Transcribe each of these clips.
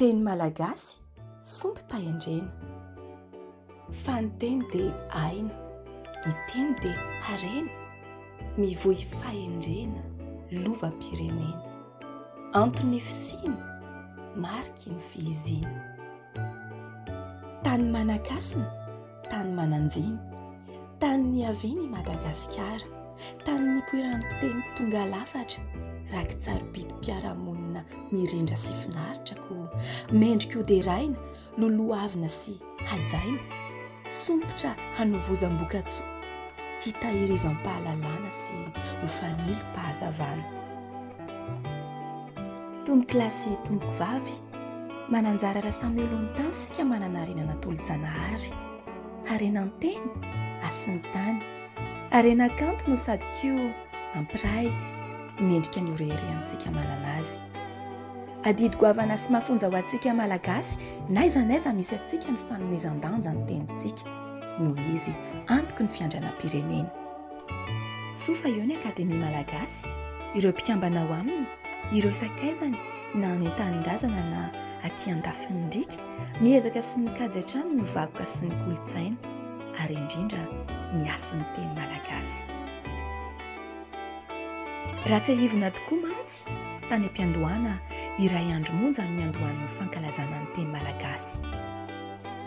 Teny malagasy, sombim-pahendrena. Fa ny teny dia aina. Ny teny dia harena. Mivoy fahendrena, lovam-pirenena. Anton'ny fisiany, mariky ny fihizina. Tany Manakasina. Tany Mananjiny, tany niaviany i Madagasikara, tany nipoiran'ny teny tonga lafatra, rakitsarobidim-piarahamonina mirindra sy finaritra koa mendrika hoderaina, lolohavina sy hajaina, sompitra hanovozam-bokatsoa, hitahirizam-pahalalana sy ho fanilo-pahazavana. Tompokolahy sy tompoko vavy, Mananjara raha samy eo alohan'ny tany isika manana harena natolo-janahary. Harena an-teny, hasin'ny tany. Harena kanto no sady koa mampiray mendrika ny oreherentsika manana azy. Adidy goavana sy mafonja ho antsika malagasy, n'aiza n'aiza misy antsika ny fanomezan-danja ny tenintsika, noho izy antoky ny fiandranam-pirenena. Soa fa eo ny Akademia Malagasy, ireo mpikambana ao aminy, Ireo sakaizany na any an-tanindrazana na aty andafin'ny riaka, miezaka sy mikajy hatrany ny vakoka sy ny kolontsaina, ary indrindra ny hasin'ny teny malagasy. Raha tsiahivina tokoa mantsy, tany am-piandohana iray andro monja ny niandohan'ny fankalazana ny teny malagasy.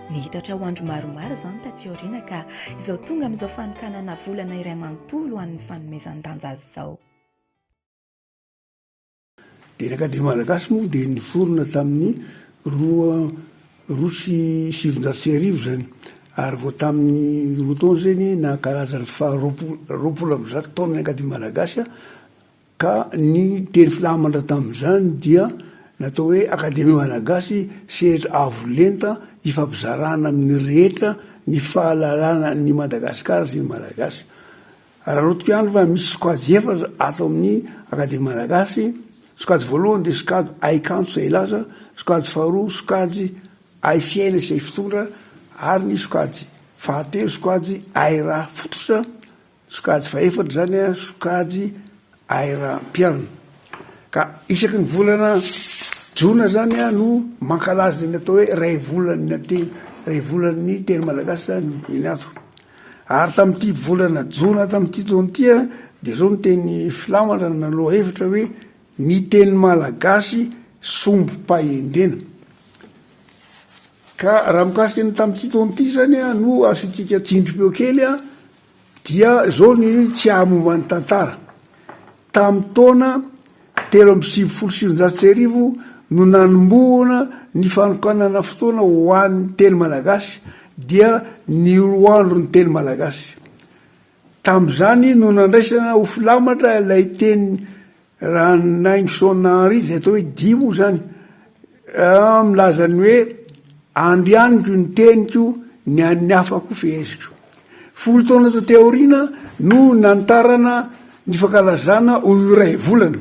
Nihitatra ho andro maromaro izany taty aoriana ka izao tonga amin'izao fanokanana volana iray manontolo ho an'ny fanomezan-danja azy izao. Dia ny Akademia Malagasy moa dia niforona tamin'ny roa roa sy sivinjato sy arivo izany, ary vao tamin'ny roa taona izay ny nankalaza ny faha roapolo roapolo amby zato taonan'ny Akademia Malagasy, ka ny teny filamatra tamin'izany dia natao hoe Akademia Malagasy, sehatra avo lenta hifampizarana amin'ny rehetra ny fahalalana an'i Madagasikara sy ny Malagasy. Araraoty koa ihany fa misy sokajy efatra ato amin'ny Akademia Malagasy, sokajy voalohany dia sokajy Hay kanto sy hay laza, sokajy faharoa sokajy Hay fiaina sy hay fitondra ary ny sokajy fahatelo sokajy Hay raha fototra, sokajy fahefatra izany sokajy Air Mpialona. Ka isaky ny volana jona zany no mankalaza ny atao hoe ray volan'ny teny ray volan'ny teny malagasy zany iny ato. Ary tamin'ity volana jona tamin'ity taona ity dia zao ny teny filamatra na lohahevitra hoe ny teny malagasy sombim-pahendrena. Ka raha mikasika ny tamin'ity taona ity zany no asiantsika tsindrim-peo kely Dia izao ny tsy hahamomba ny tantara. Tamin'ny taona telo amby sivifolo sy sivinjato sy arivo no nanombohana ny fanokanana fotoana ho an'ny teny malagasy dia ny roandron'ny teny malagasy. Tamin'izany no nandraisana ho filamatra ilay teny Raha ny nain'i Shaun Henry izay atao hoe dihy moa izany, milaza ny hoe, Andrianiko ny teniko, ny an'ny hafa koa feheziko. Folo taona taty aoriana no nanitarana ny fankalazana ho iray volana,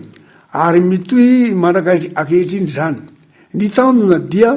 ary mitohy mandrak'ankehitriny izany. Ny tanjona dia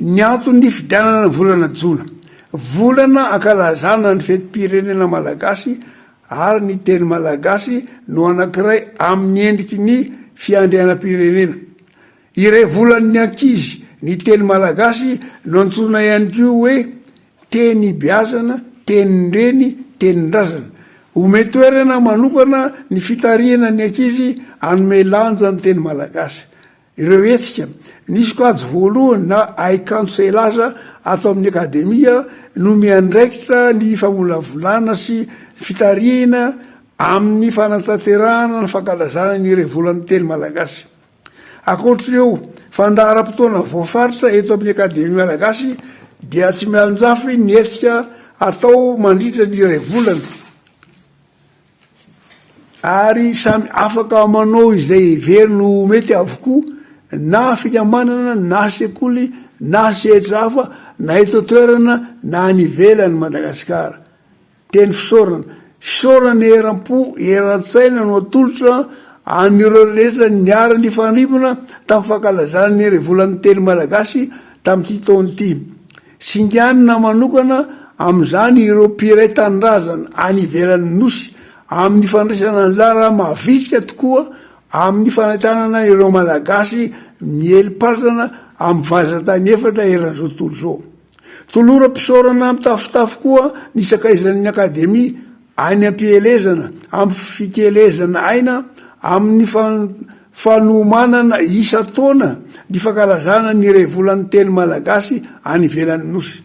Ny antony nifidianana ny volana jona, volana ankalazana ny fetim-pirenena malagasy ary ny teny malagasy no anankiray amin'ny endriky ny fiandrianam-pirenena. Iray volan'ny ankizy ny teny malagasy no antsoina ihany koa hoe teny ibeazana, tenin-dreny, tenin-drazana. Omey toerana manokana ny fitarihana ny ankizy hanome lanja ny teny malagasy. Ireo hetsika ny sokajy voalohany na haikanto seilaza ato amin'ny Akademia no miandraikitra ny famolavolana sy fitarihina amin'ny fanatanterahana ny fankalazana ny iray volan'ny teny malagasy. Ankoatr'ireo fandaharam-potoana voafaritra eto amin'ny Akademia malagasy dia tsy mialonjafy ny hetsika atao mandritra ny iray volana. ary samy afaka manao izay heveriny ho mety avokoa na fikambanana na sekoly na sehatra hafa na eto an-toerana na any ivelan'i Madagasikara. Teny fisaorana, fisaorana eram-po, eran-tsaina no atolotra an'ireo rehetra niara-nifandrimbona tamin'ny fankalazana ny Herivolan'ny Teny Malagasy tamin'ity taona ity. Singanina manokana amin'izany ireo mpiray tanindrazana any ivelan'ny Nosy amin'ny fandraisana anjara mavitrika tokoa amin'ny fanentanana ireo Malagasy miely patrana amin'ny vazan-tany efatra eran'izao tontolo izao. Toloram-pisaorana mitafotafo koa ny sakaizan'ny Akademia Any am-pielezana, ampy fikelezana aina amin'ny fanomanana isan-taona ny fankalazana ny iray volan'ny teny malagasy any ivelan'ny Nosy.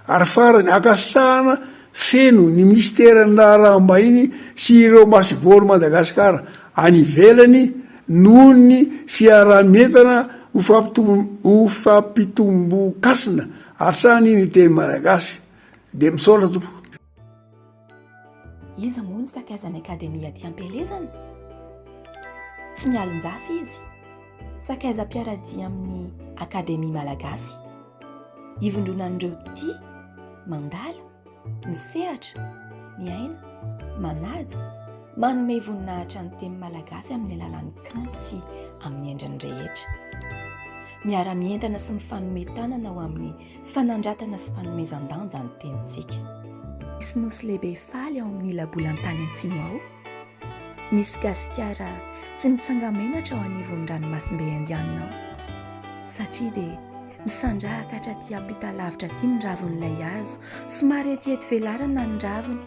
Ary farany, ankasitrahana feno ny minisiteran'ny Raharaham-bahiny sy ireo masoivohon'i Madagasikara any ivelany noho ny fiaraha-mientana ho fampitombon-kasina hatrany ny teny malagasy. Dia misaotra tompoko. Iza moa no sakaizan'ny Akademia aty am-pielezana? Tsy mialon-jafy izy. Sakaizam-piaradia amin'ny Akademia Malagasy. Ivondronan'ireo tia mandala, misehatra, miaina, manaja, manome voninahitra ny teny malagasy amin'ny alalan'ny kanto sy amin'ny endriny rehetra. Miara-mientana sy mifanome tanana ho amin'ny fanandratana sy fanomezan-danja ny tenintsika. Misy nosy lehibe faly ao amin'ny labolantany antsimo ao. Misy Gasikara tsy mitsanga-menatra ao anivon'ny ranomasimbe Indianina ao. Satria dia misandrahaka hatraty ampita lavitra aty ny ravin'ilay hazo, somary etiety velarana ny raviny,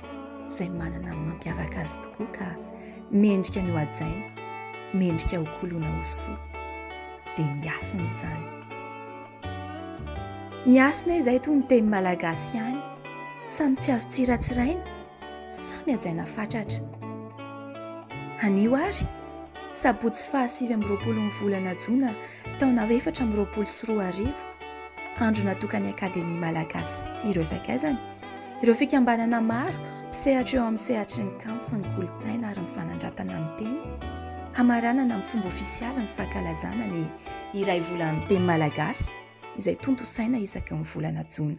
izay manana ny mampiavaka azy tokoa ka mendrika ny ho hajaina, mendrika ho kolona ho soa. Dia ny hasina izany. Ny hasina izay toy ny teny malagasy ihany, samy tsy azo tsiratsiraina, samy hajaina fatratra. Anio ary, sabotsy fahasivy amby roapolo ny volana jona taona efatra amby roapolo sy roa arivo, andro natokan'ny Akademia malagasy sy ireo sakaizany, ireo fikambanana maro mpisehatra eo amin'ny sehatry ny kanto sy ny kolontsaina ary ny fanandratana ny teny, hamaranana amin'ny fomba ofisialy ny fankalazana ny iray volan'ny teny malagasy izay tontosaina isaky ny volana jona.